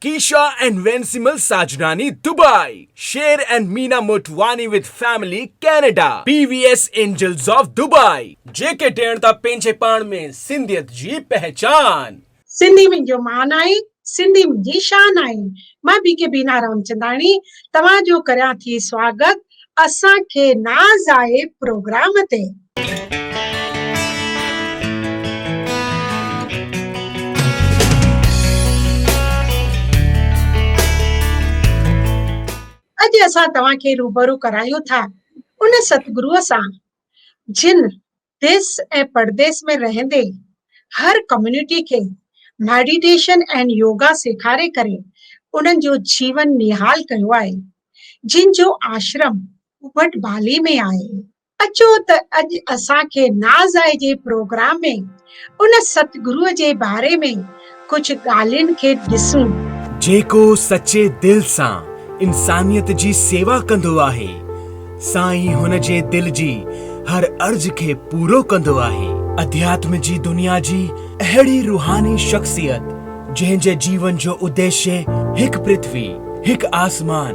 ڪيشا and Vensimal Sajnani Dubai, Sher and Meena Motwani with family Canada, P V S angels of Dubai. جيڪي ڏيڻ ٿا پنهنجي پاڻ ۾، سنڌيت جي پهچان. سنڌي منهنجو مان آهي، سنڌي منهنجي شان آهي. مان بي ڪي بينا رامچنداڻي توهان جو ڪريان ٿي سواگت اسان کي ناز آهي پروگرام تي. اڄ اسان توهان کي روبرو ڪرايون ٿا ان ستگرو سان جن ديس ۽ پرديس ۾ رهندي هر ڪميونٽي کي ميڊيٽيشن ۽ يوگا سيکاري ڪري انهن جو جيون نهال ڪيو آهي جن جو آشرم ابٽ بالي ۾ آهي. اچو ته اڄ اسان کي ناز آهي جي پروگرام ۾ ان ستگرو جي باري ۾ ڪجهه ڳالهين کي ڏسون. جيڪو سچي دل سان انسانيت جي سيوا ڪندو آهي، سائين هن جي دل جي هر عرض کي پورو ڪندو آهي. اڌياتم جي دنيا جي اهڙي روحاني شخصيت جنهن جي جيون جو اديشي هڪ پرٿوي، هڪ آسمان،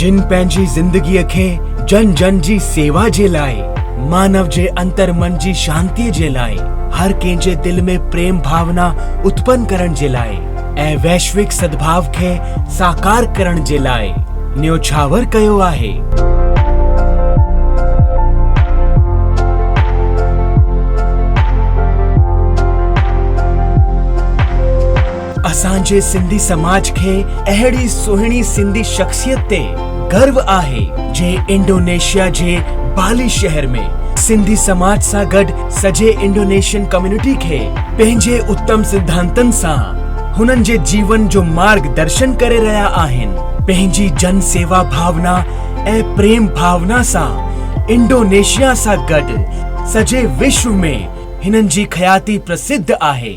جن پنهنجي زندگيء کي جن جن جي سيوا جي لاء، مانو جي اندر من جي شانتيء جي لاء، هر ڪنهن جي دل ۾ پريم ڀاونا اتپن ڪرڻ جي لاء. ۽ ويشوڪ سدڀاء کي ساڪار ڪرڻ جي لاء نيوڇاور ڪيو آهي. اسان جي سنڌي سماج کي اهڙي سهڻي سنڌي شخصيت تي گرو آهي جي انڊونيشيا جي بالي شهر ۾ سنڌي سماج سان گڏ سڄي انڊونيشين ڪميونٽي کي پنهنجي اتم سڌانتن سان هنن جي جيون جو مارگ درشن ڪري رهيا آهن. پنهنجي جن سيوا ڀاونا ۽ پريم ڀاونا سان انڊونيشيا سان گڏ سڄي وشو ۾ هنن جي خياتي پرسڌ آهي.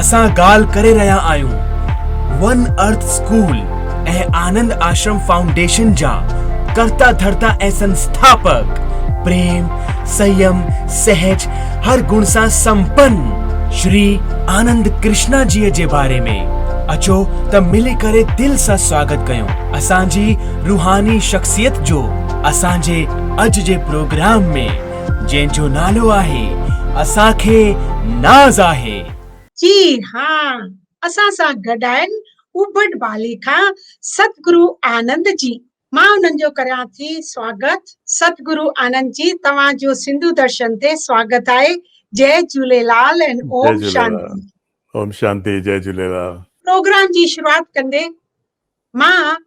اسان ڳالهه ڪري رهيا آهيون one earth school ۽ Anand Ashram foundation جا ڪرتا ڌرتا ۽ سنسٿاپڪ، پريم، سنيم، سهج هر گڻ سان سمپن شري آنند ڪرشنا جيء جي باري ۾ اچو ته ملي ڪري دل سان سواگت ڪيون اسان جي روحاني شخصيت جو اسان جي اڄ جي پروگرام ۾. جنهن جو نالو آهي اسان کي ناز آهي. جي ها اسان سان گڏ آهن اوبڊ بالي کان ستگرو آنند جي مان انهن جو ڪريان ٿي سواگت. ستگرو آنند جي توهان جو سنڌو درشن تي سواگت آهي جئي جهوليلال ۽ جئي اوم جهوليلال شانتي. اوم شانتي جئي جهوليلال. پروگرام جي شروعات ڪندي مان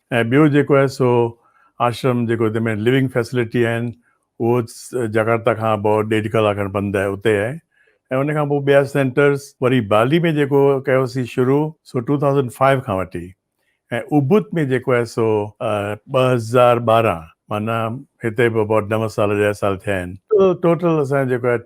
۽ ٻيو جيڪو آهي سو آشرم جيڪو تنهن ۾ لوينگ فيسلٽي آهن اهو جڪارتا کان بئو ڏيڍ ڪلاڪ کن پنڌ آهي اتي آهي ۽ ان کان پوء ٻيا سينٽرز وري بالي ۾ جيڪو ڪيوسين شروع سو ٽو ٿائوزنڊ فائيو کان وٺي ۽ اوبت ۾ جيڪو آهي سو ٻه هزار ٻارهن معنيٰ هتي به ابائوٽ نو سال ڏهه سال ٿيا آهن ٽوٽل اسان جيڪو آهي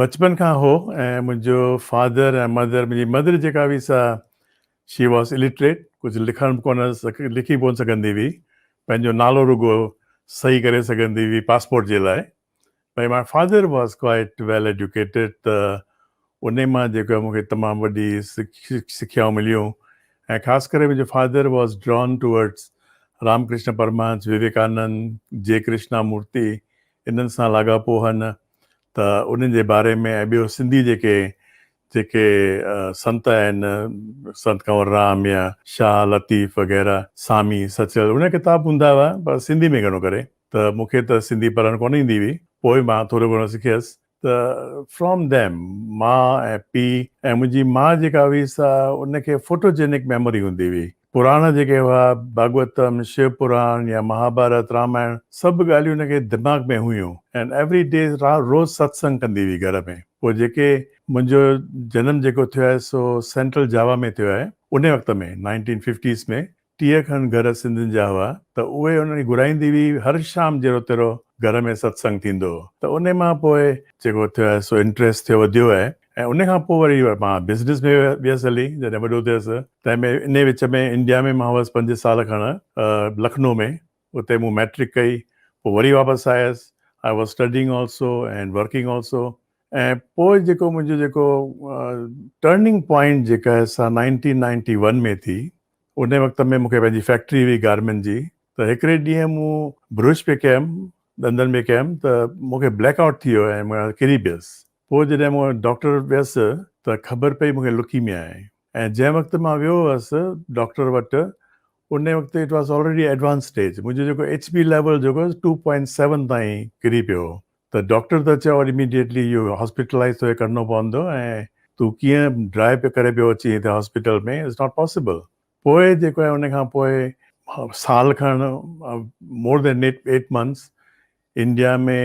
بچپن کان هو ۽ منهنجو فادر ۽ مدر منهنجي مدر جيڪا هئي سا شي واز الٽريٽ ڪجهه لکڻ به ڪونه لکي ڪونه سگهندي هئي پنهنجو نالو رڳو صحيح ڪري سگهندي هئي پاسپورٽ جي لاء ۽ ماء father was quite well educated ته انهي مان جيڪو مون کي تمام وڏي سکيائون مليون ۽ خاص ڪري منهنجو father was drawn towards Ram Krishna Paramhans Vivekanand ji Krishna مورتي انهن سان لاڳاپو هن ته انهن جي باري ۾ ۽ ٻيو سنڌي جيڪي جيڪي سنت آهن سنت ڪنور رام يا شاهه لطيف وغيره سامي سچل انهن جا ڪتاب هوندا هئا پر سنڌي ۾ گهڻو ڪري ته مون کي ته سنڌي پڙهڻ ڪونه ايندي هئي پوء مان ٿورو گهڻو سکيس ته فرام ديم ماء ۽ پيء ۽ منهنجي ماء جيڪا هئي سا ان کي فوٽو جينڪ ميموري هوندي هئي پراڻا جيڪي هئا، ڀاڳوتم، شيو پراڻ يا مهاڀارت، رامائڻ، سڀ ڳالهيون هن کي دماغ ۾ هيون ۽ ايوري ڊي روز ستسنگ ڪندي هئي گهر ۾. پوء جيڪي منهنجو جنم جيڪو ٿيو آهي سو سينٽرل جاوا ۾ ٿيو آهي. انهي وقت ۾ نائنٽين ففٽيز ۾ ٽيهه کن گهر سنڌين جا هئا ته اهي انهن کي گهرائيندي هئي هر شام جيرو تيرو گهر ۾ ستسنگ ٿيندو هو ته انهي مان پوء جيڪو ٿيو آهي سو انٽريسٽ ٿيو وڌيو آهي. ۽ ان کان پوء وري مان بزنس ۾ ويس هلي جڏهن وڏو ٿيس تنهن ۾ انهي وچ ۾ انڊيا ۾ مان هوس پنج سال کڻ لکنو ۾ اتي مون مئٽرڪ ڪئي پوء وري واپس آيس I was studying also and working also ۽ پوء جيڪو منهنجو جيڪو ٽرننگ پوائنٽ جيڪا سا نائنٽين نائنٽي ون ۾ ٿي انهي وقت ۾ مون کي پنهنجي فيڪٽري هئي گارمنٽ جي ته هڪڙي ڏينهن مون برش پي ڪيم ڏندن ۾ ڪيم ته مون کي بليڪ آئوٽ ٿي ويو ۽ مان ڪري پيس پوء جڏهن مون وٽ ڊاڪٽر وٽ ويس ته خبر پئي مون کي لڪيميا آهي ۽ جنهن وقت مان ويو هوس ڊاڪٽر وٽ ان وقت it was already advance stage منهنجو جيڪو ايڇ بي ليول جيڪو هوس ٽو پوائنٽ سيون تائين ڪري پيو هو ته ڊاڪٽر ته چيو ايميڊيٽلي اهو هاسپيٽلائيز توکي ڪرڻو پوندو ۽ تون ڪيئن ڊرائي پيو ڪري پيو اچين هتي هاسپيٽل ۾ اٽس ناٽ پاسيبل پوء جيڪو آهي ان کان پوء سال کن more than eight eight months India ۾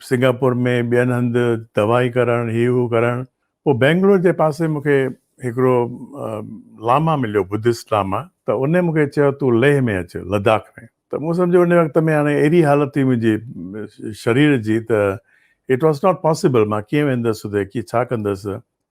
Singapore ۾ ٻين هنڌ دوائي ڪرڻ هي هو ڪرڻ پوء بينگلور جي پاسي مون کي هڪڙو لاما مليو بدست لاما ته ان مون کي چيو تون ليهه ۾ اچ لداخ ۾ ته مون سمجهيو ان وقت ۾ هاڻي اهڙي حالت هئي منهنجي شرير جي ته اٽ واز ناٽ پاسبل مان ڪيئن ويندس اتي ڪي ڇا ڪندس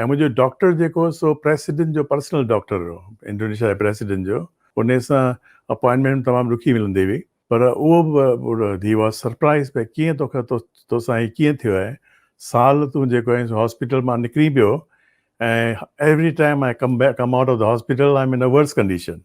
۽ منهنجو ڊاڪٽر جيڪو هو سو پريسڊنٽ جو پرسنل ڊاڪٽر هو انڊونيشيا جي پريسڊنٽ جو ان سان اپوائنٽمينٽ تمام ڏکي ملندي هئي پر اهو به هي واز سرپرائز ڀئي ڪيئن توکي توسان هي ڪيئن ٿيو آهي سال تون جيڪو آهين سو هاسپيٽل مان نڪرين پيو ۽ every time I come back come out of the hospital I am in a worse condition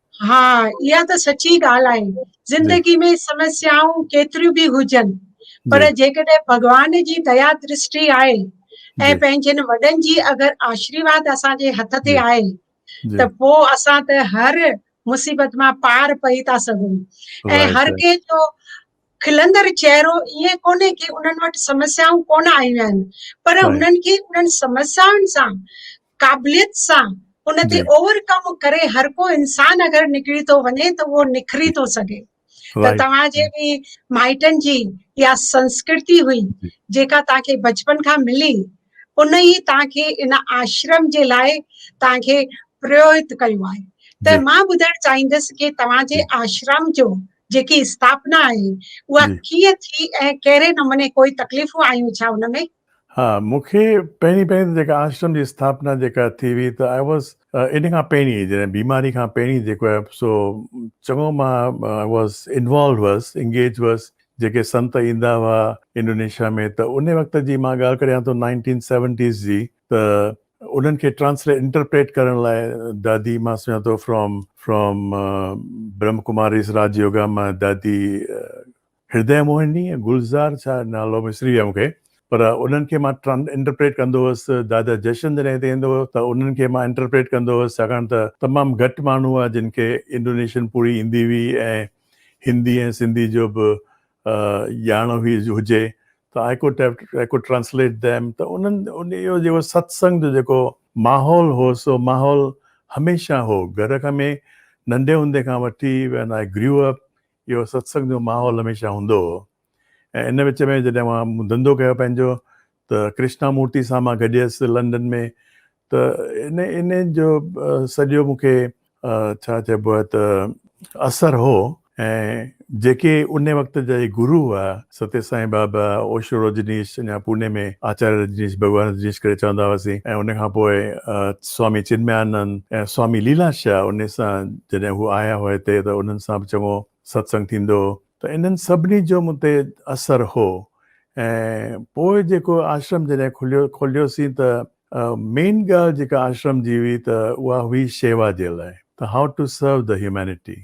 ها اها ته سچي ڳالهه آهي زندگي ۾ سمسيائون ڪيتريون به هجن پر جيڪڏهن ڀڳوان جي ديا درشٽي آهي ۽ پنهنجن وڏن جي اگر آشرواد اسان جي هٿ تي آهي ته پوء اسان ته هر مصيبت مان پار پئي ٿا سگهون ۽ هر ڪنهن جو کلندڙ چهرو ائين ڪونهي ڪي انهن وٽ سمسيائون ڪونه آيون آهن پر انهن کي انهن سمسيائن سان قابليت سان ان تي اوور ڪم ڪري هر ڪو انسان اگر نڪري ٿو وڃي ته اهو نکري ٿو سگهي ته توهان جي به مائٽن جي يا سنسڪرتي هئي جيڪا توهان کي بچپن کان ملي ان ئي توهان کي ان آشرم جي لاء توهان کي پريوهت ڪيو آهي ته مان ٻڌائڻ چاهيندس ڪي توهان جي آشرم جو جيڪي اسٿاپنا آهي اها ڪيئن ٿي ۽ ڪهڙي نموني ڪوئي تڪليفون آيون ڇا ان ۾ ها مون کي پهرين پهرين ته جيڪا آشرم جي اسٿاپنا جيڪا ٿي هئي ته آء واز ان کان پهرين جڏهن بيماري کان پهرين جيڪو آهي سو چڱو مان آء واز انوالوڊ هئس انگيج هئس جيڪي سنت ايندا هئا انڊونيشيا ۾ ته ان وقت جي مان ڳالهه ڪريان ٿو نائنٽين سيونٽيز جي ته انهن کي ٽرانسليٽ انٽرپريٽ ڪرڻ لاء دادي مان سمجهان ٿو فرام فرام برهمڪماريز راج يوگا مان دادي هردئي موهني ۽ گلزار ڇا نالو وسري ويم کي پر انهن کي مان ٽرن انٽرپريٽ ڪندو هوس دادا جشن جڏهن هتي ايندو هو ته انهن کي مان انٽرپريٽ ڪندو هوس ڇاڪاڻ ته تمام گهٽ ماڻهو هئا جن کي انڊونيشن پوري ايندي هئي ۽ هندي ۽ سنڌي جو به ڄاڻ هئي هجي ته I could have I could translate them ته انهن اهو جيڪو ستسنگ جو جيڪو ماحول هو سو ماحول هميشه هو گهر کان ۾ ننڍي هوندي کان وٺي وين آء گريو اپ اهو ستسنگ جو ماحول هميشه هوندو هو ۽ ان وچ ۾ جڏهن اوهان مون ڌنڌو ڪيو پنهنجو ته ڪرشنا مورتي سان مان گڏيس لنڊن ۾ ته ان ان جو سڄو مون کي ڇا چئبو آهي ته اثر هو ۽ جيڪي ان وقت جا گرو هئا ستي سائين بابا، اوشو رجنيش، اڃا پوني ۾ آچاريه رجنيش، ڀڳوان رجنيش ڪري چوندا هئاسين ۽ ان کان پوء سوامي چنميانند ۽ سوامي ليلا شاهه انهي سان جڏهن هو آيا هئا هتي ته انهن سان به چڱو ستسنگ ٿيندو هو ته انهن سڀني جو مون تي اثر هو ۽ پوء جيڪو آشرم جڏهن کليو کوليوسين ته مين ڳالهه جيڪا آشرم جي هئي ته اها هئي شيوا جي لاء ته هائو ٽو سرو ڌه هيومينٽي.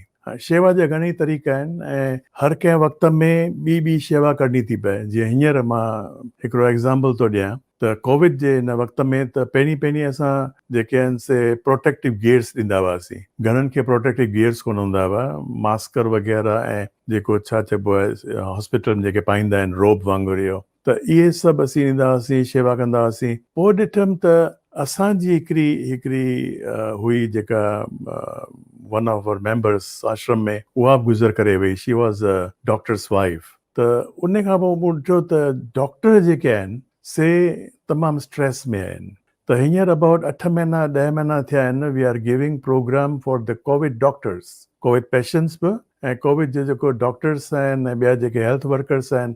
شيوا جا گهڻيئي طريقا آهن ۽ هر ڪنهن وقت ۾ ٻي ٻي شيوا ڪرڻي ٿي پئي جيئن هينئر مان هڪڙو ايگزامپل ٿو ڏيان ته ڪووڊ جي هن وقت ۾ ته پهرين پهرين اسان جيڪي آهن سي پروٽيڪٽو گيئرس ڏيندا هئاسين گهڻن کي پروٽيڪٽو گيئرس ڪونه هوندا هئا ماسڪر وغيره ۽ جيڪو ڇا چئبو آهي هاسپيٽل ۾ جيڪي پائيندا آهن روب وانگر اهو ته اهي سڀ اسين ايندا هئاسين، شيوا ڪندا هئاسين. پوء ڏٺم ته اسان جي هڪڙي هڪڙي هئي جيڪا one of our members ashram ۾ اها به گذر ڪري وئي، she was a doctor's wife. ته ان کان پوء مون ڏٺو ته ڊاڪٽر جيڪي آهن سي تمام اسٽريس ۾ آهن ته هينئر ابائوٽ اٺ مهينا ڏهه مهينا ٿيا آهن we are giving programme for the covid doctors, covid patients به ۽ ڪووڊ جي جيڪو ڊاڪٽرس آهن ۽ ٻيا جيڪي هيلٿ ورڪرس آهن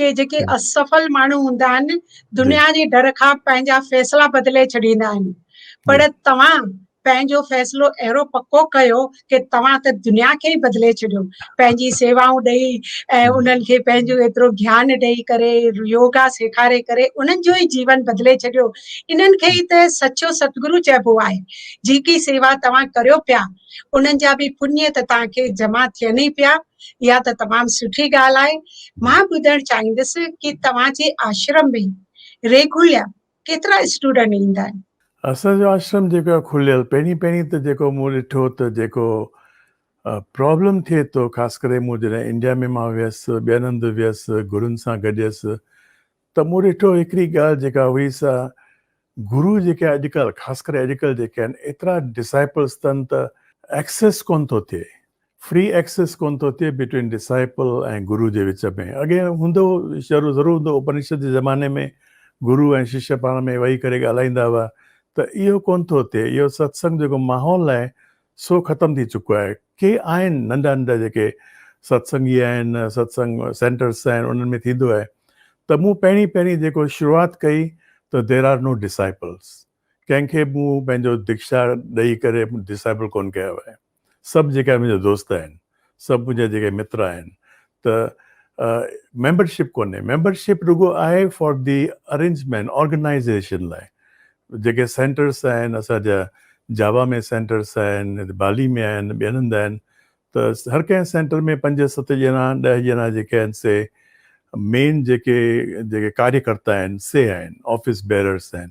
ڪي جيڪي اسفل ماڻهو هوندا آهن دنيا جي ڊر کان پنهنجا فيصلا بدلي ڇڏيندا آهن پر توهان پنهنجو فيصلو اهڙو پڪو ڪيو ڪي توهان ته دنيا کي ئي بدلي ڇڏيو پنهنجي سيوائون ڏئي ۽ انهن کي پنهنجو ايترو گيان ڏئي ڪري يوگا سيکاري ڪري انهن جو ئي جيون بدلي ڇڏيو انهن کي ئي ته سچو ستگرو چئبو آهي جيڪي سيوا توهان ڪريو پيا انهن جا به پڃ ته توهان کي جمع ٿين ئي پيا اها ته تمام سٺي ڳالهه آهي. مان ٻڌڻ چاهيندس ڪي توهان جي آشرم ۾ ريگوليا ڪيترا اسٽوڊنٽ ايندا آهن. اسان جو آشرم جيڪو آهي کليل پهرين پهرين ته جيڪو مون ڏٺو ته جيڪو پرابلم ٿئي ٿو خاص ڪري مون جڏهن انڊيا ۾ مان ويس ٻين هنڌ ويس گرن سان گڏيس ته مون ڏٺو هڪڙي ڳالهه جيڪا هئي سا گرو جيڪي اڄ ڪلهه خاص ڪري اڄ ڪلهه جيڪي آهن ايترا ڊسائپلس تن ته ايڪسيس ڪونه ٿو ٿئي فري ايڪسيس ڪونه ٿو ٿئي بٽوين ڊسائپل ۽ گرو جي وچ ۾ اڳي هوندو شروع ضرور هوندو اپنشد جي زماني ۾ گرو ۽ ششيه پاڻ ۾ ويهي ڪري ڳالهائيندا هئا ته اهو ڪونه ٿو ٿئي اهو ستسنگ جيڪو ماحول آهي سو ختم ٿي چڪو آهي ڪي آهن ننڍا ننڍا جيڪي ستسنگي آهن ستسنگ سينٽرس آهن انهن ۾ ٿيندو آهي ته مون پهرين پهرين جيڪو شروعات ڪئي ته دير آر نو ڊسائيپلس ڪنهن کي مون پنهنجو ديکشا ڏئي ڪري ڊسائيپل ڪونه ڪيو آهي سڀ جيڪا منهنجا دوست آهن سڀ منهنجا جيڪي متر آهن ته ميمبر شپ ڪونهي ميمبر شپ رڳو آهي فار دي ارينجمينٽ آرگنائيزيشن لاء جيڪي سينٽرس آهن اسان جا جاوا ۾ سينٽرس آهن بالي ۾ آهن ٻين هنڌ آهن ته هر ڪنهن سينٽر ۾ پنج ست ڄڻا ڏهه ڄڻا جيڪي آهن سي مين جيڪي جيڪي ڪاريڪرتا آهن سي آهن آفيس بيررس آهن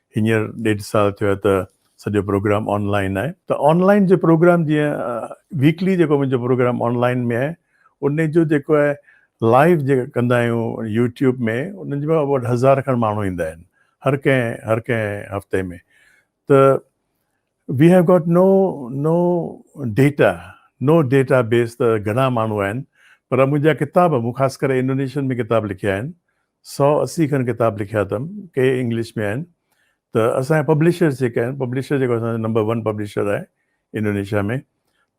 هينئر ڏيڍ سال ٿيو آهي ته سڄو پروگرام آن لائن آهي ته آن لائن جو پروگرام جيئن ويڪلي جيڪو منهنجو پروگرام آن لائن ۾ آهي ان جو جيڪو آهي لائيو جيڪا ڪندا آهيون يوٽيوب ۾ انهن جي وٽ هزار کن ماڻهو ايندا آهن هر ڪنهن هر ڪنهن هفتي ۾ ته we have got no no data no database ته گهڻا ماڻهو آهن پر منهنجا ڪتاب مون خاص ڪري انڊونيشين ۾ ڪتاب لکيا آهن سؤ اسي کن ڪتاب لکيا اٿم، ڪي انگلش ۾ آهن ته اسان جا پبلشرز جيڪي آهن، پبلشر جيڪو اسان جو نمبر ون پبلشر آهي انڊونيشيا ۾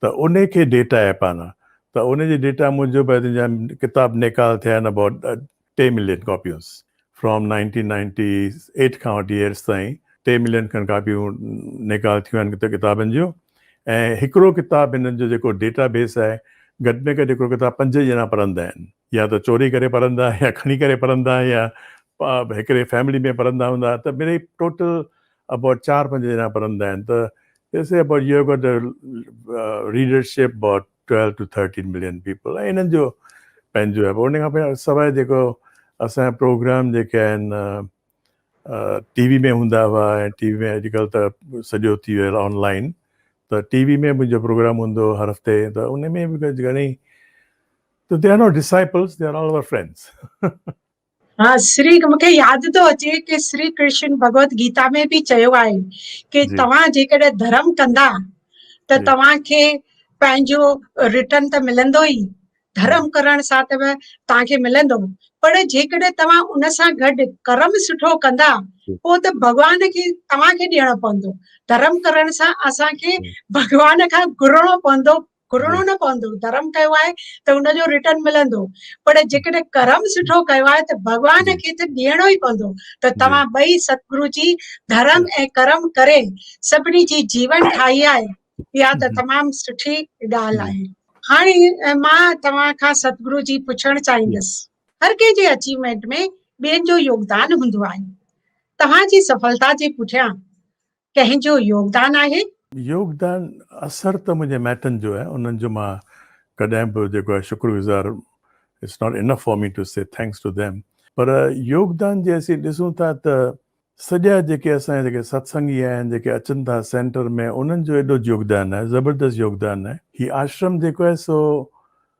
ته ان کي ڊيٽا آهي پانا ته ان جي ڊيٽا موجب آهي ته ان جا ڪتاب نيڪال ٿيا آهن ابائوٽ ٽي ملين ڪاپيونس فرام نائنٽين نائنٽي ايٽ کان وٺي هيرس تائين ٽي ملين کن ڪاپيون نيڪال ٿيون آهن ڪتابن جون ۽ هڪڙو ڪتاب هنن جو جيڪو ڊيٽا بيس آهي گهٽ ۾ گهٽ هڪڙو ڪتاب پنج ڄڻا پڙهندا آهن. يا ته چوري ڪري پڙهندا يا کڻي ڪري پڙهندا يا هڪڙي فيملي ۾ پڙهندا هوندا ته مڙئي ٽوٽل اباٽ چار پنج ڄڻا پڙهندا آهن ته they say about you have got a readership about twelve to thirteen million people ۽ هنن جو پنهنجو آهي ان کان سواء جيڪو اسان جا پروگرام جيڪي آهن ٽي وي ۾ هوندا هئا ۽ ٽي وي ۾ اڄڪلهه ته سڄو ٿي ويو آن لائن ته ٽي وي ۾ منهنجو پروگرام هوندو هر هفتي ته ان ۾ به گهڻي So they are not disciples, they are all our friends. ها سري مونکي ياد ٿو اچي ڪي سري ڪرشن بھگوت گيتا ۾ به چيو آهي ڪي توهان جيڪڏهن ڌرم ڪندا ته توهان کي پنهنجو رٽن ته ملندو ئي ڌرم ڪرڻ سان ته توهان کي ملندو پر جيڪڏهن توهان ان سان گڏ ڪرم سٺو ڪندا پوء ته ڀڳوان کي توهان کي ڏيڻو پوندو ڌرم ڪرڻ سان اسان کي ڀڳوان کان گهرڻو پوندو گهرڻو نه پوندو ڌرم ڪيو آهي ته ان جو رٽرن ملندو پر جيڪڏهن ڪرم سٺو ڪيو آهي ته ڀڳوان کي ته ڏيڻو ئي پوندو ته توهان ٻئي ستگرو جي ڌرم ۽ ڪرم ڪري سڀني جي جيون ٺاهي آهي اها ته تمام سٺي ڳالهه آهي هاڻي مان توهان کان ستگرو جي پڇڻ چاهيندس هر ڪنهن جي اچيومينٽ ۾ ٻين جو يوگدان هوندو آهي توهان جي سڦلتا جي پٺيان ڪنهن جو يوگدان آهي؟ يوگدان اثر ته منهنجي مائٽن جو آهي انهن جو مان ڪڏهن به جيڪو آهي شڪر گذار It's not enough for me to say thanks to them پر يوگدان جي اسين ڏسون ٿا ته سڄا جيڪي اسان جا جيڪي ستسنگي آهن جيڪي اچن ٿا سينٽر ۾ انهن جو ايڏو يوگدان آهي زبردست يوگدان آهي هي آشرم جيڪو آهي سو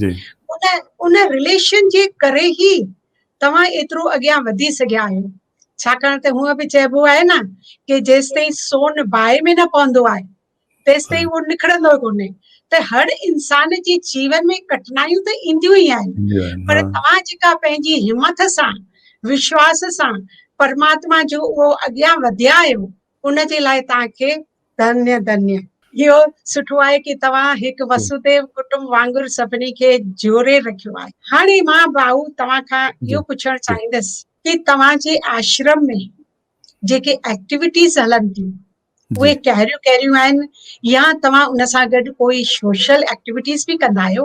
جي ان ان رليشن جي ڪري هي توهان ايترو اڳيان وڌي سگهيا آهيو ڇاڪاڻ ته هونء به چئبو آهي نه ڪي جيستائين سون باهه ۾ نه پوندو آهي تيستائين اهو نکڙندو ڪونهي ته هر انسان جي جيون ۾ ڪٺنايون ته اينديون ئي آهن پر توهان جيڪا پنهنجي همٿ سان وشواس سان پرماتما جو اهو اڳيان وڌيا آهيو ان جي لاء توهان کي ڌنيه ڌنيه. اهو سٺو آهي ڪي توهان هڪ وسوديو ڪٽنب وانگر سڀني کي جوڙي رکيو آهي. هاڻي مان ڀائو توهان کان اهو پڇڻ چاهيندس ڪي توهان جي آشرم ۾ جيڪي ايڪٽيوٽيز هلن ٿيون اهي ڪهريون ڪهريون آهن يا توهان ان سان گڏ ڪوئي سوشل ايڪٽيوٽيز به ڪندا آهيو.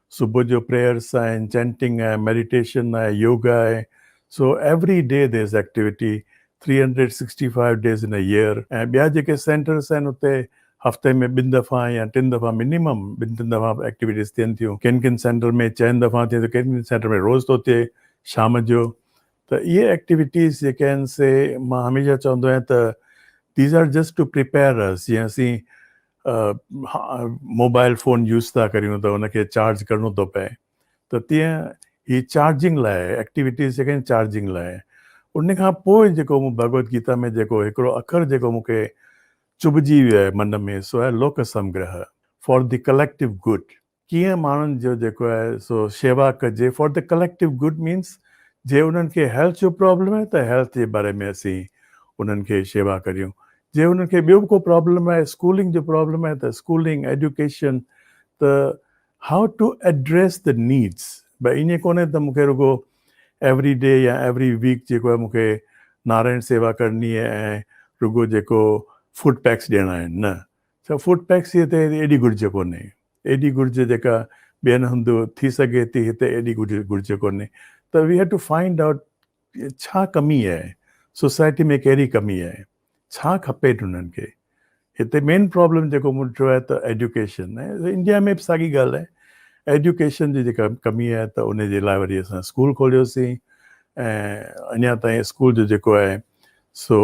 صبح جو پريئرس آهن، چينٽنگ آهي، ميڊيٽيشن آهي، يوگا آهي، so every day there is activity, three hundred sixty five days in a year ۽ ٻيا جيڪي سينٽرس آهن اتي هفتي ۾ ٻن دفعا يا ٽن دفعا منيمم ٻن ٽن دفعا ايڪٽيوٽيز ٿين ٿيون، ڪن ڪن سينٽر ۾ چئن دفعا ٿئي ٿو ڪن ڪن سينٽر ۾ روز ٿو ٿئي شام جو ته اهي ايڪٽيويٽيز جيڪي آهن سي مان هميشه چوندو آهيان ته these are just to prepare us جيئن اسين موبائل فون يوز ٿا ڪريون ته ان کي چارج ڪرڻو ٿو پئي ته تيئن هي چارجنگ لاء ايڪٽيويٽيز جيڪي آهن چارجنگ لاء ان کان پوء جيڪو مون ڀڳوت گيتا ۾ جيڪو هڪڙو اکر جيڪو مون کي چڀجي ويو آهي من ۾ سو آهي Lok Samgraha for the collective good ڪيئن ماڻهن جو جيڪو آهي سو شيوا ڪجي for the collective good means جي انهن کي هيلٿ جو پرابلم آهي ته هيلٿ جي باري ۾ اسين انهن کي شيوا ڪريون جي انهن کي ٻيو به ڪو پرابلم آهي اسڪولنگ جو پرابلم آهي ته اسڪولنگ ايڊيوڪيشن ته high to address the needs بي ائين ڪونهي ته مون کي رڳو ايوري ڊي يا ايوري ويڪ جيڪو آهي مون کي نارائڻ سيوا ڪرڻي ۽ رڳو جيڪو فوڊ پيڪس ڏيڻا آهن نه ڇا فوڊ ٽيڪسيء تي هتي ايڏي گهرج ڪونهي؟ ايڏي گهرج جيڪا ٻين هنڌ ٿي سگهي ٿي، هتي ايڏي گهرج ڪونهي ته we had to find out ڇا ڪمي آهي؟ سوسائٽي ۾ ڪهڙي ڪمي آهي؟ ڇا کپي هنن کي؟ هتي مين پرابلم جيڪو مون ڏٺو آهي ته ايڊيوڪيشن آهي. انڊيا ۾ به ساڳي ڳالهه آهي. ايڊيوڪيشن جي جيڪا ڪمي آهي ته ان جي لاء وري اسان اسڪول کوليوسين ۽ اڃا تائين اسڪول جو جيڪو آهي سو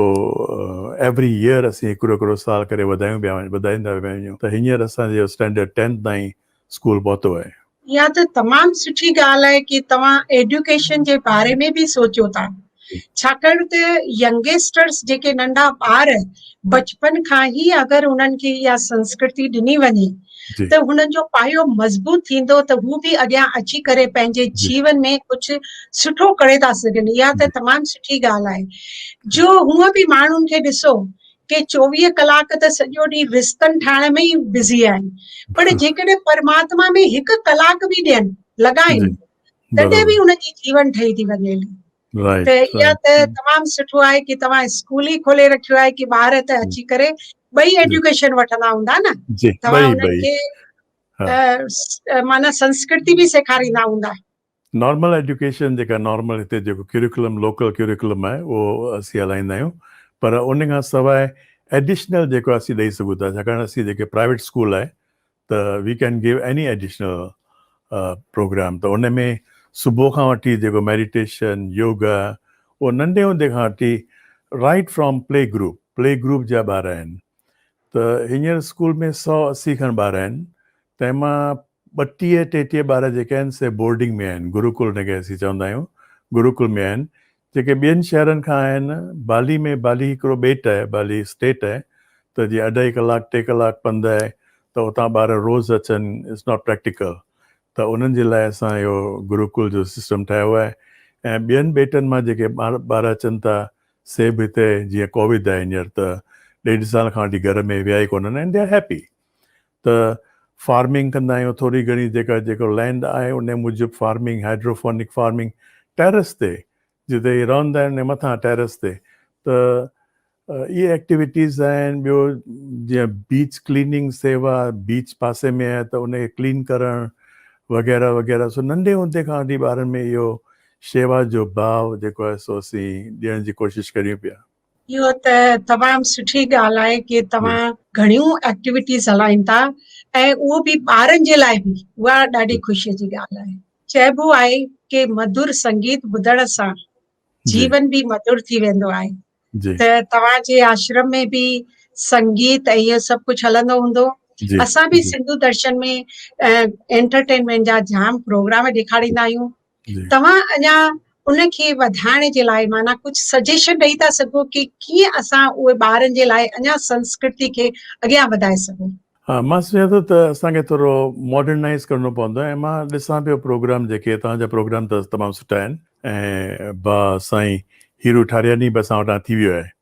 ايوري ييئر اسين هڪڙو هڪڙو سال ڪري وڌايون پيا وڃون وڌائيندا پيا وڃون ته هينئر اسان جو اسٽينڊرڊ ٽينٿ تائين اسڪول پهتو آهي. اها ته تمام سٺي ڳالهه آهي ڪي توهان ايڊيوڪيشن جي باري ۾ به سوچيو ٿا ڇاڪاڻ ته ينگيسٽرس جيڪي ننڍا ٻار بچپن کان هي اگر انهن کي اها سنسڪرتي ڏني وڃي ته هنن جو پايو مضبوط ٿيندو ته هو به اڳيان اچي ڪري پنهنجي جيون ۾ ڪجهه سٺو ڪري ٿا سگهن اها ته تمام سٺي ڳالهه آهي جو هونء به ماڻهن کي ڏسو ڪي چوويهه ڪلاڪ ته سڄو ڏينهن رستن ٺاهڻ ۾ ئي بزي آهن پر جيڪڏهن پرماتما ۾ هڪ ڪلاڪ به ڏين لڳائين تڏهن به هن جي جيون ٺهي ٿي وڃي ته اها ته تمام سٺو آهي ڪي توهان اسڪول ئي کولي رکيو آهي ڪي ٻار هتي اچي ڪري ٻئي ايڊيوڪيشن وٺندا هوندا نه توهان انهن کي معنيٰ سنسڪرتي به سيکاريندا هوندا نارمل ايڊيوڪيشن جيڪا نارمل هتي جيڪو ڪيريڪولم لوڪل ڪيريڪولم آهي اهو اسين هلائيندا آهيون پر ان کان سواء ايڊيشنل جيڪو اسين ڏئي سگهون ٿا ڇاڪاڻ اسين جيڪي پرائيويٽ اسڪول آهي ته we can give any additional program ته ان ۾ صبح کان وٺي جيڪو ميڊيٽيشن يوگا اهو ننڍي هوندي کان وٺي right from play group play group جا ٻار آهن ته هينئر اسڪول ۾ سؤ اسي کن ٻار آهن تنهن مان ٻٽيهه ٽيٽيهه ٻار جيڪي آهن سي بورڊنگ ۾ آهن گروڪل جنهن کي اسين چوندا آهيون گروڪل ۾ آهن جيڪي ٻين شهرن کان آهن، بالي ۾ بالي هڪڙو ٻيٽ آهي، بالي اسٽيٽ آهي ته جي اڍائي ڪلاڪ ٽي ڪلاڪ پنڌ آهي ته اتان ٻار روز اچن اٽس ناٽ پريڪٽيڪل ته انهن جي لاء اسان اهو گروڪل جو سسٽم ٺاهيو آهي ۽ ٻين ٻيٽن مان جيڪي ٻار اچن ٿا سي به هتي جيئن ڪوويد آهي هينئر ته ڏيڍ سال کان وٺي گهر ۾ ويا ئي ڪونهن آهن اينڊ دي آر هيپي ته فارمنگ ڪندا آهيون ٿوري گهڻي جيڪا جيڪو لينڊ آهي ان موجب فارمنگ هائيڊروفونڪ فارمنگ ٽيرس تي جتي هي رهندا آهن ان مٿان ٽيرس تي ته اهي ايڪٽيويٽيز آهن ٻيو جيئن بيچ ڪليننگ سيوا بيچ پاسي ۾ آهي ته ان کي ڪلين ڪرڻ وغيره وغيره سو ننڍي هوندي کان وٺي ٻارن ۾ اهو شيوا جو باو جيڪو آهي سو اسين ڏيڻ جي ڪوشش ڪريون پيا. اهو ته تمام سٺي ڳالهه آهي ڪي توهان گهڻيون ايڪٽيويٽيز هلائين ٿا ۽ اهو به ٻارن جي لاء به اها ڏاڍي خوشي جي ڳالهه آهي چئبو آهي ڪي مڌر سنگيت ٻڌڻ سان جيون به مڌر ٿي ويندو آهي ته توهان جي آشرم ۾ به سنگيت ۽ اهو سڀ ڪجهه هلندو هوندو اسان به سنڌو درشن ۾ انٽرٽينمينٽ جا جام پروگرام ڏيکاريندا آهيون توهان اڃا ان کي وڌائڻ جي لاء معنيٰ ڪجهه سجيشن ڏئي ٿا سگهو ڪي ڪيئن اسان اهي ٻارن جي لاء اڃا سنسڪرتي کي اڳيان وڌائي سگهون. ها مان سوچان ٿو ته اسان کي ٿورو ماڊرنائيز ڪرڻو پوندو ۽ مان ڏسان پيو پروگرام جيڪي توهان جا پروگرام ته تمام سٺا آهن ۽ با سائين هيرو ٺارياني به اسان وٽان ٿي ويو آهي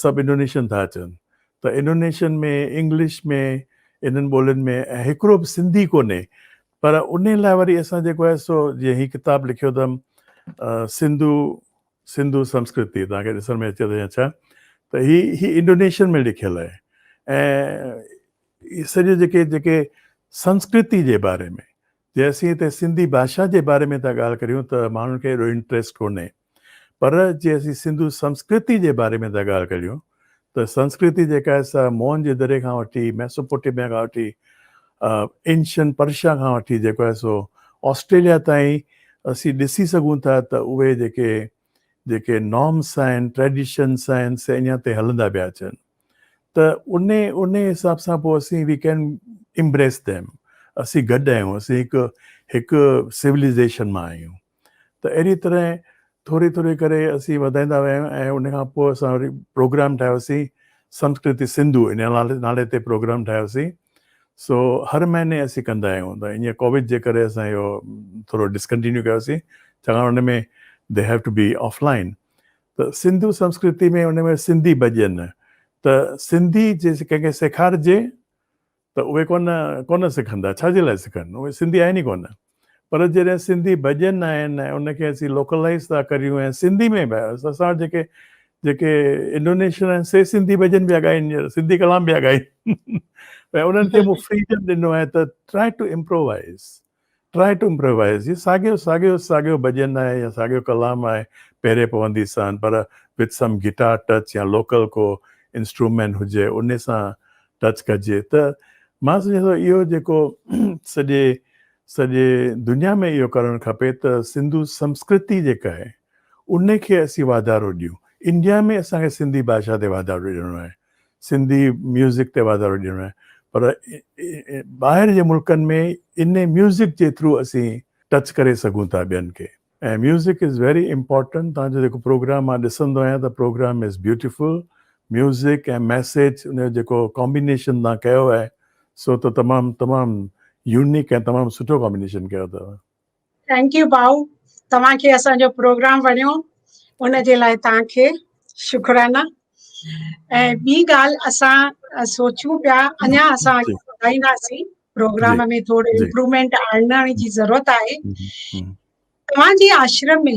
سڀ انڊونيشين ٿا اچن ته انڊونيشين ۾ انگلش ۾ انهن ٻولين ۾ ۽ هڪڙو به سنڌي ڪونهي پر ان لاء وري اسان جيڪو آهي سو جيئن هي ڪتاب لکيو اٿم سنڌو سنڌو سنسڪرتي توهان کي ڏسڻ ۾ اچي ٿو يا ڇا ته هي هي انڊونيشين ۾ لکيل آهي ۽ سڄو جيڪي جيڪي سنسڪرتي جي باري ۾ جي اسين هتي سنڌي ڀاشا جي باري ۾ ٿا ڳالهه ڪريون ته ماڻهن کي ايڏو انٽريسٽ ڪونهي پر جي اسين سنڌو سنسڪرتي جي باري ۾ ٿا ڳالهه ڪريون ته سنسڪرتي جيڪا آهي سا موهن جي دري کان وٺي ميسوپوٽيميا کان وٺي اينشن پرشا کان وٺي جيڪو آهي سو آسٽريليا تائين اسين ڏسي سگهون ٿا ته اهي جيڪي جيڪي نارمس آهن ٽريڊيشنس آهن سي اڃا تائين هلندا پيا اچن ته ان ان حساب سان پوء اسين وي ڪين امبريس ديم اسين گڏ آهيون اسين هڪ هڪ سولائزيشن مان آهيون ته اهڙي طرح ٿوري ٿوري ڪري اسين وڌائيندا ويا آهيون ۽ ان کان پوء اسان وري پروگرام ٺاهيوسين سنسڪرتي سنڌو ان نالي تي پروگرام ٺاهيوسين سو هر مهيني اسين ڪندا آهيون ته ايئن ڪوويڊ جي ڪري اسان اهو ٿورو ڊسڪنٽينيو ڪيوسين ڇاڪاڻ ان ۾ they have to be offline ته سنڌو سنسڪرتي ۾ ان ۾ سنڌي ڀڄن ته سنڌي جي ڪنهن کي سيکارجي ته اهي ڪونه ڪونه سکندا ڇا جي لاء سکن اهي سنڌي آهن ئي ڪونه پر جڏهن سنڌي ڀڄن آهن ۽ ان کي اسين لوڪلائيز ٿا ڪريون ۽ سنڌي ۾ به اسان وٽ جيڪي جيڪي انڊونيشن آهن سي سنڌي ڀڄن پيا ڳائين ڄڻ سنڌي ڪلام پيا ڳائين ۽ انهن کي مون فريڊم ڏنو آهي ته try to improvise Try to improvise هي ساڳيو ساڳيو ساڳيو ڀڄن آهي يا ساڳيو ڪلام آهي پيري پوندي سان پر with some guitar touch يا لوڪل ڪو انسٽرومينٽ هجي انهي سان ٽچ ڪجي ته مان سمجهان ٿو اهو جيڪو سڄي سڄي دنيا ۾ اهو ڪرڻ کپي ته سنڌو سنسڪرتي جيڪا آهي انهي کي اسين واڌارو ڏيون انڊيا ۾ اسان کي سنڌي ڀاشا تي واڌارو ڏيڻو آهي سنڌي ميوزڪ تي واڌارو ڏيڻو آهي پر ٻاهر جي ملڪن ۾ ان ميوزڪ جي ٿرو اسين ٽچ ڪري سگهون ٿا ٻين کي ۽ ميوزڪ از ويري امپورٽنٽ تان جو جيڪو پروگرام مان ڏسندو آهيان ته program is beautiful music ۽ message ان جو جيڪو ڪامبينيشن تان ڪيو آهي سو ته تمام تمام يونيڪ ۽ تمام سٺو ڪامبينيشن ڪيو اٿو ٿينڪ يو ڀائو توهان کي اسان جو پروگرام وڻيو ان جي لاء توهان کي شڪرانا ۽ ٻي ڳالهه اسان سوچيون پيا اڃا اسان ٻڌائينداسين پروگرام ۾ ٿورو امپروومينٽ آڻڻ جي ضرورت آهي توهان جي آشرم ۾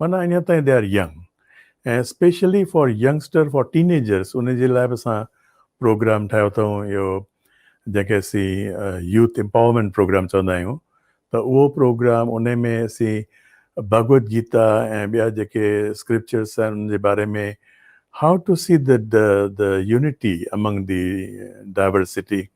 معنيٰ اڃا تائين they are young ۽ specially for youngster for teenagers ان جي لاء به اسان پروگرام ٺاهيو اٿئون اهو جنهن کي اسين يوٿ امپاورمينٽ پروگرام چوندا آهيون ته اهو پروگرام ان ۾ اسين ڀڳوت گيتا ۽ ٻيا جيڪي اسڪرپچرس آهن ان جي باري ۾ how to see the the unity among the diversity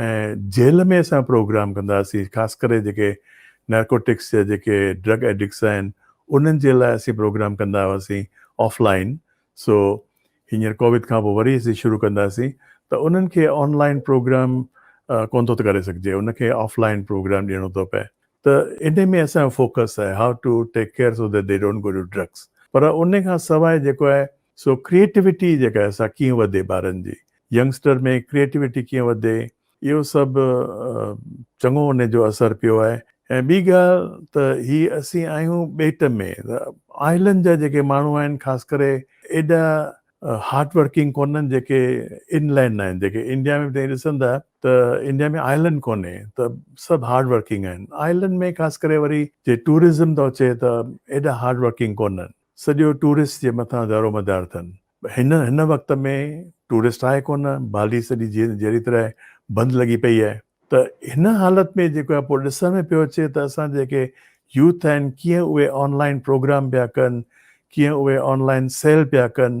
۽ jail ۾ اسان پروگرام ڪنداسين خاص ڪري جيڪي نارڪوٽڪس جا جيڪي ڊرگ ايڊڪس آهن انهن جي لاء اسين پروگرام ڪندا هئاسين آف لائين سو هينئر ڪوويد کان پوء وري اسين شروع ڪنداسين ته انهن کي آن لائين پروگرام ڪونه ٿو ته ڪري سگهجي ان کي آف لائين پروگرام ڏيڻو ٿو پئي ته انهي ۾ اسان جو فوڪس آهي how to take care so that they don't go to drugs پر انهي کان سواء جيڪو آهي سو ڪريئيٽوٽي جيڪا سا ڪيئن وڌي ٻارن جي ينگسٽر ۾ ڪريئيٽوٽي ڪيئن وڌي اهو سڀ چڱو ان جو اثر پيو آهي ۽ ٻي ڳالهه ته هي اسين آهيون ٻيٽ ۾ آئلنڊ جا جيڪي ماڻهو آهن خاص ڪري ايڏا هارڊ ورڪنگ ڪونهن جيڪي ان لينڊ آهن جيڪي انڊيا ۾ به ڏسندا ته انڊيا ۾ آئلنڊ ڪونهي ته سڀ هارڊ ورڪنگ آهن آئلنڊ ۾ خاص ڪري وري جي ٽوئرزم ٿو اچي ته ايڏا هارڊ ورڪنگ ڪونهن سڄو ٽوئرسٽ جي مٿان دارومدار اٿن. هن هن وقت ۾ ٽوئرسٽ آهي ڪونه، بالي سڄي جيئن جهڙي طرح بند لڳي پئي آهي ته هن حالت ۾ جيڪو آهي پوء ڏسڻ ۾ پيو اچي ته اسان جيڪي يوٿ آهن ڪيئن اهي آن لائن پروگرام پيا ڪن، ڪيئن اهي آن لائن سيل پيا ڪن،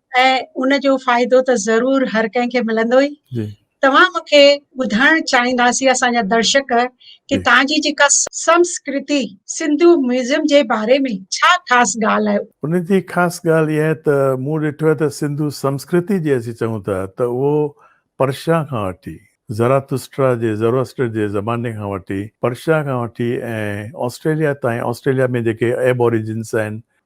۽ ان جو فائدو ته ضرور هر ڪنهن کي ملندو ئي توهان مون کي ٻڌائڻ چاهينداسين اسان جا درشڪ ڪي تان جي جيڪا سمسڪرتي سنڌو ميوزيم جي باري ۾ ڇا خاص ڳالهه آهي ان جي خاص ڳالهه اها آهي ته مون ڏٺو آهي ته سنڌو سمسڪرتي جي اسين چئون ٿا ته اهو پرشا کان وٺي زراتسٽرا جي Zoroaster جي زماني کان وٺي پرشا کان وٺي ۽ آسٽريليا تائين آسٽريليا ۾ جيڪي ايب اوريجنس آهن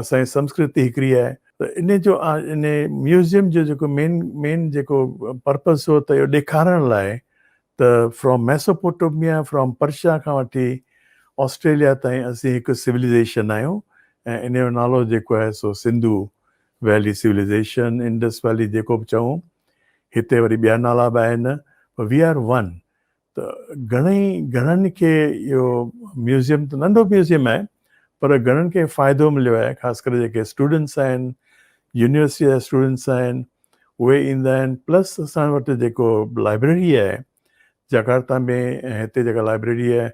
اسان جي سنسڪرتي هڪڙي آهي ته ان جو ان ميوزيم جو جيڪو مين مين جيڪو پرپز هو ته اهو ڏيکارڻ لاء ته فرام ميسوپوٽوميا فرام پرشا کان وٺي آسٽريليا تائين اسين هڪ سوليزيشن آهيون ۽ ان جو نالو جيڪو آهي سو Sindhu valley civilisation Indus valley جيڪو به چئون هتي وري ٻيا نالا به آهن وي آر ون ته گهڻي گهڻن کي اهو ميوزيم ته ننڍو ميوزيم آهي پر گهڻن کي فائدو مليو آهي خاص ڪري جيڪي اسٽوڊنٽس آهن يونيورسٽي جا اسٽوڊنٽس آهن اهي ايندا آهن پلس اسان وٽ جيڪو لائبريري آهي جاڪارتا ۾ ۽ هتي جيڪا لائبريري آهي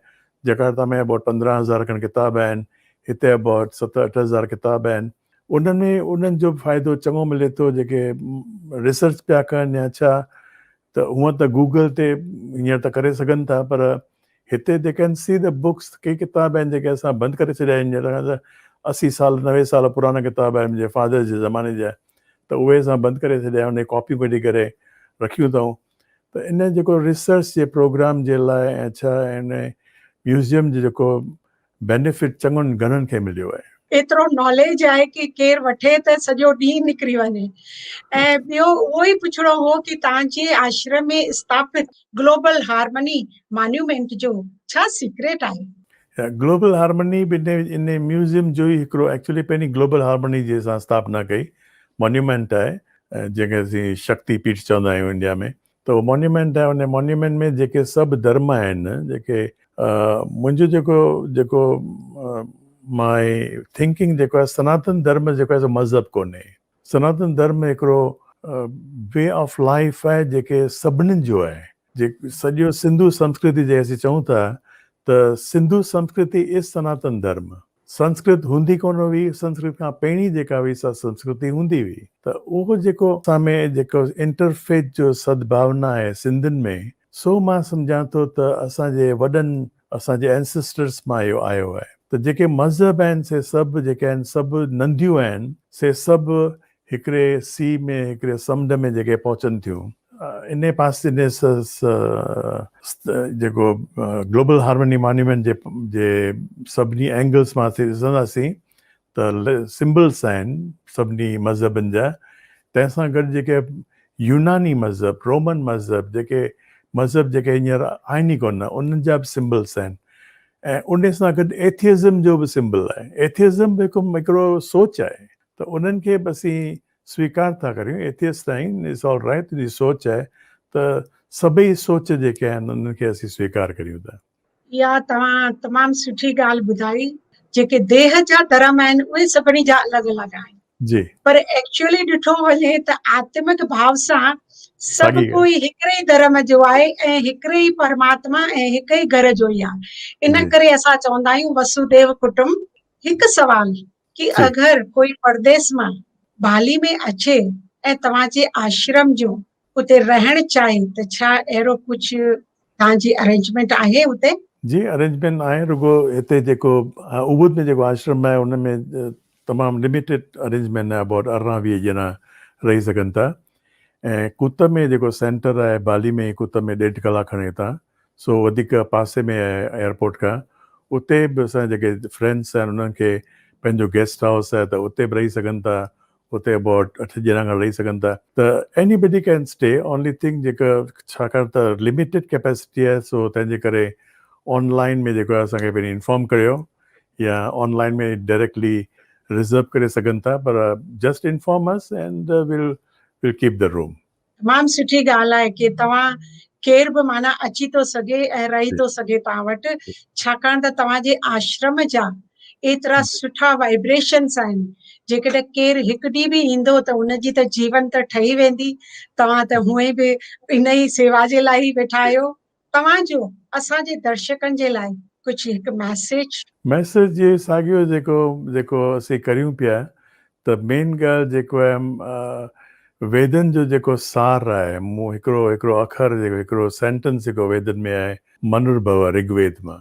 جاڪارتا ۾ اباٽ پندرهن هزار کن ڪتاب آهن هتي اباٽ ست اٺ هزار ڪتاب آهن ان ۾ انهن جو به فائدو چڱو ملي ٿو جيڪي ريسرچ پيا ڪن يا ڇا ته هونء ته گوگل تي هينئر ته ڪري سگهن ٿا پر هتي they can see the books ڪي ڪتاب آهن جيڪي اسان بند ڪري ڇڏيا آهن هينئر کان اسي سال نوي سال پراڻا ڪتاب آهن منهنجي فادر جي زماني جا ته اهي اسان بند ڪري ڇڏيا انهي ڪاپيون ڪڍي ڪري رکيون اٿئون ته ان جيڪو ريسرچ جي پروگرام جي لاء ۽ ڇا ان ميوزيم جي جيڪو بينيفٽ چڱن گهڻن کي مليو آهي. ايترو ناليج آهي ڪي ڪير وٺي ته سڄو ڏينهن نڪري وڃي ۽ ٻيو اهو ئي پڇڻو هو ڪي تان جي آشرم ۾ استاپت گلوبل هارمني مانيومينٽ جو ڇا سيڪريٽ آهي؟ گلوبل هارمني به ان ميوزيم جو ئي هڪڙو ايڪچولي پهرين گلوبل هارمني جي اسان استاپنا ڪئي مانيومينٽ آهي جنهن کي اسين شڪتي پيٺ چوندا آهيون انڊيا ۾ ته اهو مونيومينٽ آهي ان مونيومينٽ ۾ جيڪي سڀ درم آهن جيڪي منهنجو جيڪو جيڪو مائي ٿنڪنگ جيڪو آهي سناتن درم جيڪو آهي مذهب ڪونهي سناتن درم هڪڙو وي آف لائيف آهي جيڪي سڀني جو آهي جي سڄو سنڌو سنسڪرتي جي اسين چئون ٿا ته سنڌو سنسڪرتي از سناتن درم سنسڪرت هوندي ڪونه هئي، سنسڪرت کان پهرين جيڪا هئي سا سنسڪرت ئي هوندي هئي ته اهو جيڪو اسان ۾ جيڪو انٽر فيٿ جو سدڀاونا آهي سنڌين ۾ سو مان سمجهان ٿو ته اسان جي وڏن اسان جي Ancestors مان اهو آيو آهي ته جيڪي مذهب آهن سي سڀ جيڪي آهن سڀ ننديون آهن سي سڀ هڪڙي سيء ۾ هڪڙي سمنڊ ۾ جيڪي پهچن ٿيون انهي پاسي انهي جيڪو گلوبل هارمني مانيومينٽ جي جي سڀني اينگلس مان اسين ڏسنداسين ته سمبلس آهن سڀني مذهبن جا تنهن سان گڏ جيڪي يوناني مذهب رومن مذهب جيڪي مذهب جيڪي هينئر آهن ئي ڪونه انهن جا به سمبلس آهن ۽ انهي سان گڏ ايٿيزم جو به سمبل آهي ايٿيزم به هڪ هڪڙو سوچ آهي ته انهن کي به اسين سويڪار ٿا ڪريون ايٿيسٽ تائين اٽس آل رائيٽ تنهنجي سوچ آهي ته سڀئي سوچ جيڪي آهن انهن کي اسين سويڪار ڪريون ٿا. اها توهان تمام سٺي ڳالهه ٻڌائي جيڪي ديهه جا ڌرم آهن اهي سڀني جا الڳ الڳ آهن جي پر ايڪچوئلي ڏٺو وڃي ته آتمڪ ڀاء سان سڀ ڪوئي هڪڙي ئي ڌرم جو آهي ۽ هڪڙي ئي پرماتما ۽ هڪ ئي گهر جو ئي آهي ان ڪري اسان چوندا آهيون وسوديو ڪٽنب هڪ سوال ڪي اگر ڪوئي پرديس مان ڀالي ۾ اچي ۽ توهان جي آشرم جون اتي رهڻ چاهي ته ڇا اهڙو ڪجهه توهان جي ارينجمينٽ آهي اتي؟ جي ارينجمينٽ آهي رڳو هتي جيڪو اوبود ۾ جيڪو آشرم آهي ان ۾ تمام لميٽيڊ ارينجمينٽ آهي اباٽ ارڙهن ويهه ڄڻا رهي سگهن ٿا ۽ ڪوت ۾ جيڪو سينٽر آهي بالي ۾ ڪوت ۾ ڏيڍ ڪلاڪ کن هتان سو وڌيڪ پاسي ۾ آهي ايئرپورٽ کان اتي به اسان جا جيڪي فرينڊس آهن انهن کي پنهنجو گيسٽ هائوس آهي ته اتي به رهي سگهن ٿا اتي اباٽ اٺ ڄڻا کن رهي سگهن ٿا ته anybody can stay only thing جيڪا ڇاڪاڻ ته لميٽيڊ ڪيپيسٽي آهي سو تنهن جي ڪري آن لائن ۾ جيڪو آهي اسان کي پهرين انفارم ڪريو يا آن لائن ۾ ڊائريڪٽلي ريزرو ڪري سگهن ٿا پر just inform us and well well keep the room تمام سٺي ڳالهه آهي ڪي توهان ڪير به معنيٰ اچي ٿو سگهي ۽ رهي ٿو سگهي توهان وٽ ڇاڪاڻ ته توهان جي آشرم جا ايترا سٺا وائبريشنس آهن جيڪڏهن ڪير هڪ ڏينهن به ايندو ته ان جي ته جيون ته ٺهي ويندي توهان ته هونئن به ان ئي سيوا جي لاء ئي ويٺا آهيو توهان جو اسان جي درشڪن جي لاء ڪجهه هڪ ميسيج. ميسيج جي ساڳيو جيڪو جيڪو اسين ڪريون پيا ته مين ڳالهه جيڪو آهي ويدن جو جيڪو سار آهي مون هڪڙو هڪڙو اکر جيڪو هڪڙو سينٽنس جيڪو ويدن ۾ آهي منرڀوا رگ ويد مان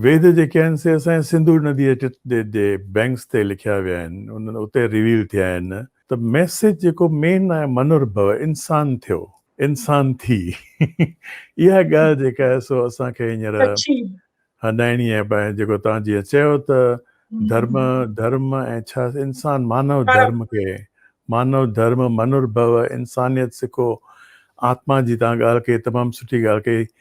ويد جيڪي آهن سي اسان جي سنڌو نديء جي بينڪس تي لکيا ويا آهن اتي ريويل ٿيا آهن ته ميسيج جيڪو مين آهي منر ڀو انسان ٿيو انسان ٿي اها ڳالهه جيڪا آهي سو اسان کي هينئر هڏائڻي آهي ڀائي جيڪو توهان جيئن چيو ته ڌرم ڌرم ۽ ڇا انسان مانو ڌرم کي مانو ڌرم منر ڀو انسانيت سکو آتما جي توهان ڳالهه ڪئي تمام سٺي ڳالهه ڪئي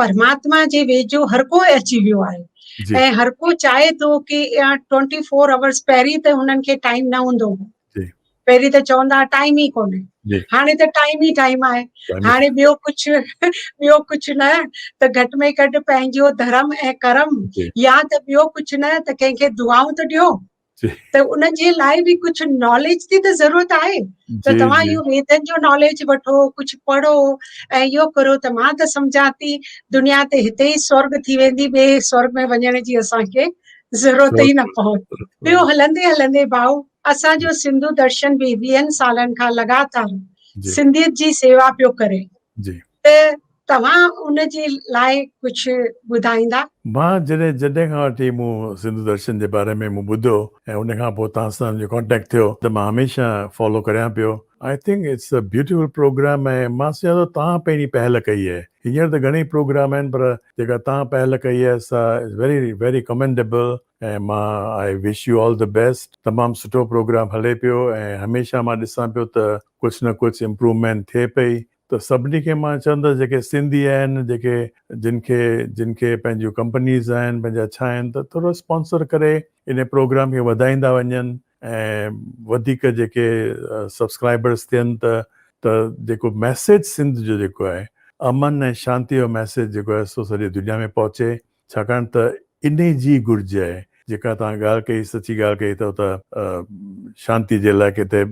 پرماتما جي ويجهو هر ڪو اچي ويو آهي ۽ هر ڪو چاهي ٿو ڪي ٽوئنٽي فور آورس پهرين ته هنن کي ٽائيم نه هوندو هو پهرين ته چوندا هئا ٽائيم ئي ڪونهي هاڻي ته ٽائيم ئي ٽائيم آهي هاڻي ٻيو ڪجهه ٻيو ڪجهه نه ته گهٽ ۾ گهٽ پنهنجو ڌرم ۽ ڪرم يا ته ٻيو ڪجهه نه ته ڪنهن کي دعائون ته ڏيو ته ان جي لاء به ڪجهه ناليج جي ته ضرورت آهي ته توهان اهو ويدن جو ناليج وٺو ڪجهه پڙهو ۽ اهو ڪرو ته مان ته سمجهان ٿي دنيا تي هتي ئي سورڳ ٿي ويندي ٻئي سورڳ ۾ وڃڻ جي اسان کي ضرورت ئي نه پوندي ٻيو هلندي هلندي ڀائو اسان جو سنڌو درشن به ويهن سالن کان لڳاتار سنڌيت جي سيوا پيو ڪري ته توهان ان جي لاء ڪجهه ٻڌائيندا؟ مان جڏهن جڏهن کان وٺي مون سنڌو درشن جي باري ۾ مون ٻڌو ۽ ان کان پوء توهان سان جو ڪانٽيڪٽ ٿيو ته مان هميشه فالو ڪريان پيو I think it's a beautiful program ۽ مان سمجهان ٿو توهان پهرين پهل ڪئي آهي هينئر ته گهڻي پروگرام آهن پر جيڪا توهان پهل ڪئي آهي سا از ويري ويري ڪمينڊيبل ۽ مان I wish you all the best تمام سٺو پروگرام هلي پيو ۽ هميشه مان ڏسان پيو ته ڪجهه نه ڪجهه امپروومينٽ ٿئي پئي ته سڀني کي مان چوندس جيڪي سنڌي آهن جيڪي جن کي جن کي پنهنجيون ڪمپنيز آهن پنهنجا ڇا آهن ته ٿورو اسپانسر ڪري انهي پروگرام کي وڌائيندا وڃن ۽ وڌيڪ جيڪي سبسڪرائبرس ٿين ته ته جيڪو ميسيج سنڌ جو جيڪو آهي امن ۽ شانتي جو ميسيج جيڪو آهي سو سڄي دنيا ۾ پهچي ڇاڪاڻ ته انهي جي گهرج آهي جيڪا توهان ڳالهه ڪئي سچي ڳالهه ڪئي ته اتي شانتي جي لاء ڪٿي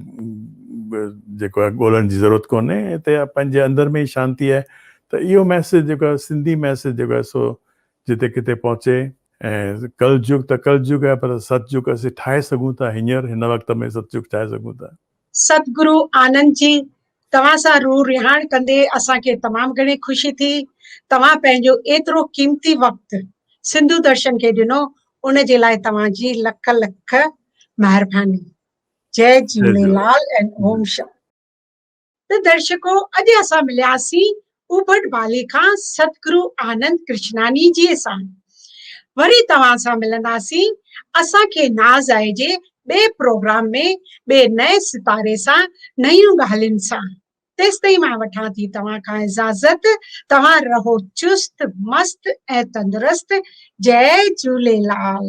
جيڪو آهي ڳولڻ جي ضرورت ڪونهي اتي پنهنجي اندر ۾ ئي شانتي آهي ته اهو ميسيج جيڪو آهي سنڌي ميسيج جيڪو آهي سو جتي ڪٿي پهچي ۽ ڪل جگ ته ڪل جگ آهي پر ست جگ اسين ٺاهي سگهون ٿا هينئر هن وقت ۾ ست جگ ٺاهي سگهون ٿا. ستگرو آنند جي توهان سان روح رهاڻ ڪندي اسان کي تمام گهڻي خوشي ٿي. توهان پنهنجو ايترو قيمتي وقت سنڌو درشن کي ڏنو ان جي لاء توهان جي لک لک مهرباني. جئي جهوليلال ۽ اوم شانتي. ته درشڪو اڄ اسان ملياسين اوبٽ بالي کان سدگرو آنند ڪرشناني جيء سان وري توهان سان ملنداسين اسان کي ناز آهي جي ٻئي پروگرام ۾ ٻئي نئين ستاري سان نيون ڳالهين سان تيستائين مان وٺان ٿي توهان کان اجازت توهان رهو چست مست ۽ تندرست جئي جهوليلال.